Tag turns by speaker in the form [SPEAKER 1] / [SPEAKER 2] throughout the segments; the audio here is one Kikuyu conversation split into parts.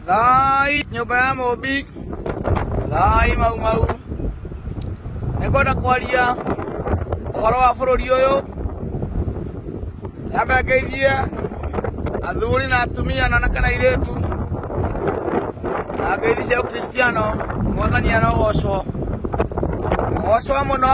[SPEAKER 1] Thai nyũmba ya mũmbi thai mau mau nĩngwenda kwaria ũhoro wa bũrũri ũyũ nyambe ngeithie athuri na atumia na anake na airĩtu na ngeithi cia ũkristiano mwathani arogocwo agocwo mũno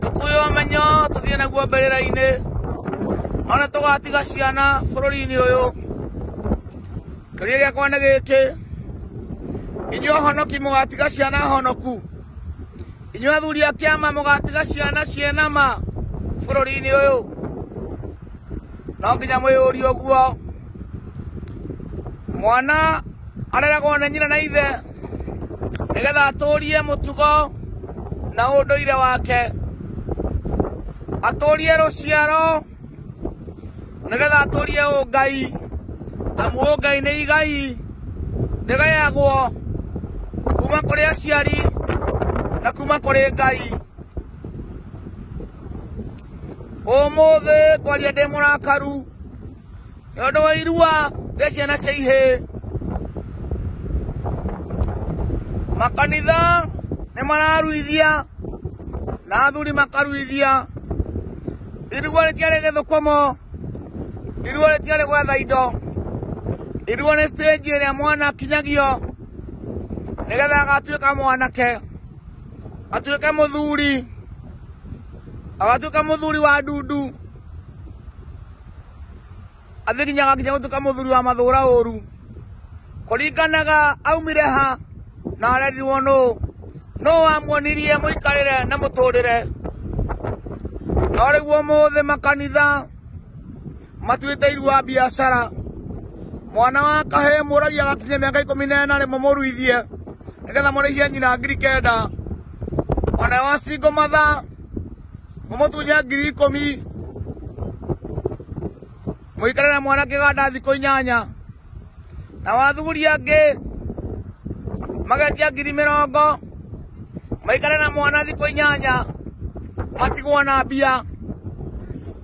[SPEAKER 1] Tũkwĩyũa menyo tũthiĩ naguo mbĩrĩra-inĩ, ona tũgatiga ciana bũrũri-inĩ ũyũ. Kĩũria gĩakwa nĩ gĩkĩ, inyuĩ ahonoki mũgatiga ciana honoku? Inyuĩ athuri a kĩama mũgatiga ciana ciĩna ma bũrũri-inĩ ũyũ? No nginya mwĩyũrie ũguo. Mwana areragwo nĩ nyina na ithe. nĩgetha atũũrie mũtugo na ũndũire wake atũũrie rũciaro nĩgetha atũũrie ũngai amu ũngai nĩ igai rĩgayagwo kuma kũrĩ aciari na kuma kũrĩ ngai ũmũthĩ kwaria ndĩ mũrakaru nĩ ũndũ wa irua rĩa ciana cia ihĩ makanitha nĩ mararuithia na athuri makaruithia irua rĩtiarĩ gĩthũkũmo irua rĩtiarĩ gwetha indo irua nĩ stage ĩrĩa mwana akinyagio nĩgetha agatuĩka mwanake atuĩke mũthuri agatuĩka mũthuri wa ndundu athirinyaga nginya gutuka muthuri wa mathura uru kuringanaga aumire ha na arerirwo nu no wamuonirie muikarire na muturire no riguo muthi makanitha matuite irua biacara mwana wa kahe muragia gakinya miaka ikumi na ena rimo muruithie nigetha murihie nyina ngiri kenda mwana wa singo matha mũmũtunye ngiri ikũmi mũikare na mwana kĩganda thikũ inyanya na wathuri angĩ magetia ngiri mĩrongo maikare na mwana thikũ inyanya matigwo na mbia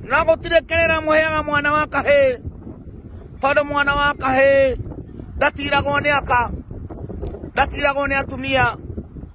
[SPEAKER 1] no gũtirĩ kĩrĩra mũheaga mwana wa kahĩ tondũ mwana wa kahĩ ndatiragwo nĩ aka ndatiragwo nĩ atumia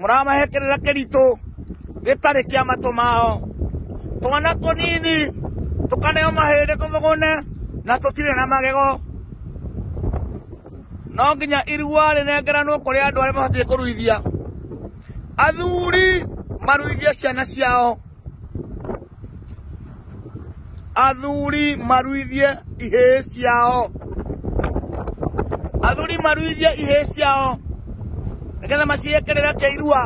[SPEAKER 1] mũramahekerera kĩritũ gĩtarĩ kĩa matũ mao twana tũnini tũkaneo mahĩndĩ tũthũgũne na tũtirĩ na magego no nginya irua rĩnengeranwo kũrĩ andũ arĩa mabatiĩ kũruithia athuri maruithie ciana ciao athuri maruithie ihĩĩ ciao athuri maruithie ihĩĩ ciao nĩgetha maciĩkĩrĩre kĩirua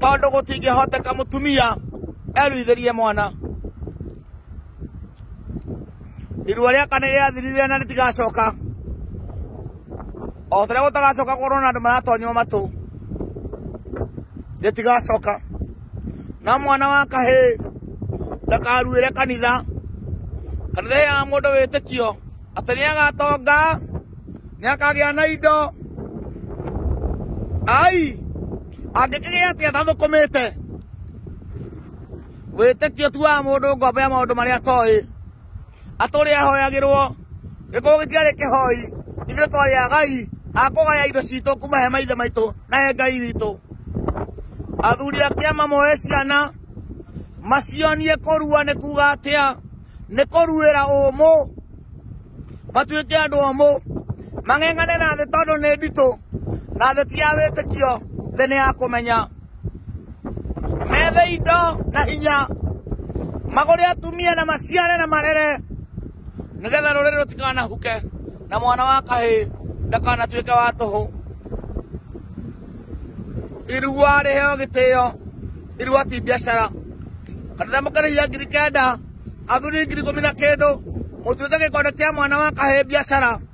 [SPEAKER 1] tondũ gũtingĩhoteka mũtumia eruithĩrie mwana irua rĩa kana rĩathirire na rĩtigacoka o tũrĩa gũtagacoka korwo na andũ maratonywo matũ rĩtigacoka na mwana wa kahĩ ndakaruĩre kanitha kanitha ya mũndũ wĩtĩkio atĩ nĩ agatonga nĩ akagĩa na indo ai angĩkĩgĩa atĩ atathũkũmĩte wĩtĩkio tu wa mũndũ ngombo ya maũndũ marĩa atoĩ atũrĩ ahoyagĩrwo gĩkũngũ gĩtiarĩ kĩhoi ithuĩ twarĩ agai akũgaya indo citũ kuma he maithe maitũ na he ngai witũ athuri a kĩama moe ciana macionie kũrua nĩ kuga atĩa nĩ kũruĩra ũmũ matuĩke andũ omũ mang'eng'ane na thĩ tondũ nĩ nditũ na thĩ ti ya wĩtĩkio thĩ nĩ ya kũmenya methe indo na hinya magũre atumia na maciare na marere nĩgetha rũrĩrĩ rũtikanahuke na mwana wa kahĩ ndakanatuĩke wa tũhũ irua rĩheo gĩtĩo irua ti biacara kanitha mũkarĩhia ngiri kenda athuri ngiri ikũmi na kĩndũ mũtuĩke gĩkonde kĩa mwana wa kahĩ biacara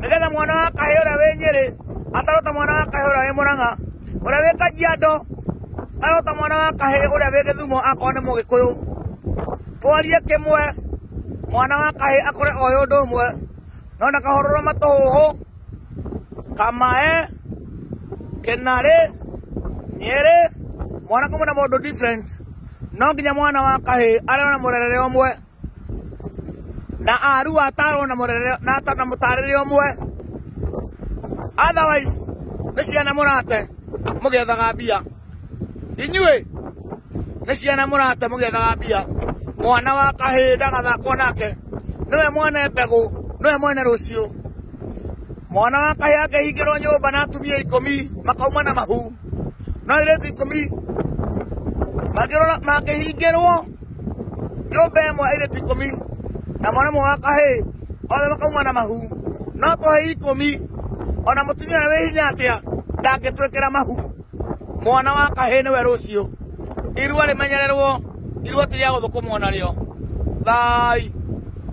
[SPEAKER 1] nĩgetha mwana wa kahĩ ũrĩa wĩ nyĩrĩ atarota mwana wa kahĩ ũrĩa wĩ mũrang'a ũrĩa wĩ kajiado arota mwana wa kahĩ ũrĩa wĩ gĩthumo akorwo nĩ mũgĩkũyũ twarie kĩmwe mwana wa kahĩ akore oĩ ũndũ ũmwe no na kahororo matũhũhũ kamae kĩnarĩ nyĩrĩ mwana kũmwe na mũndũ different no nginya mwana wa kahĩ arĩ na mũrerere ũmwe na aru atarwo na murere na ta na mutarire umwe otherwise ni ciana murate mugethaga mbia inyuĩ nĩ ciana mũrate mũgethaga mbia mwana wa kahĩĩ ndagathakwo nake nĩwe mwene mbegũ nĩwe mwene rũciũ mwana wa kahĩĩ angĩhingĩrwo nyũmba na atumia ikũmi makauma na mahu no airĩtu ikũmi mangĩrora mangĩhingĩrwo nyũmba ĩmwe airĩtu ikũmi na mwana ũmwe wa kahĩĩ othe makauma na mahu no tũhei ikũmi ona mũtumia ũrĩa wĩ hinya atĩa ndangĩtwĩkĩra mahu mwana wa kahĩĩ nĩwe rũciũ irua rĩmenyererwo irua ti rĩa gũthũkũmwo narĩo thai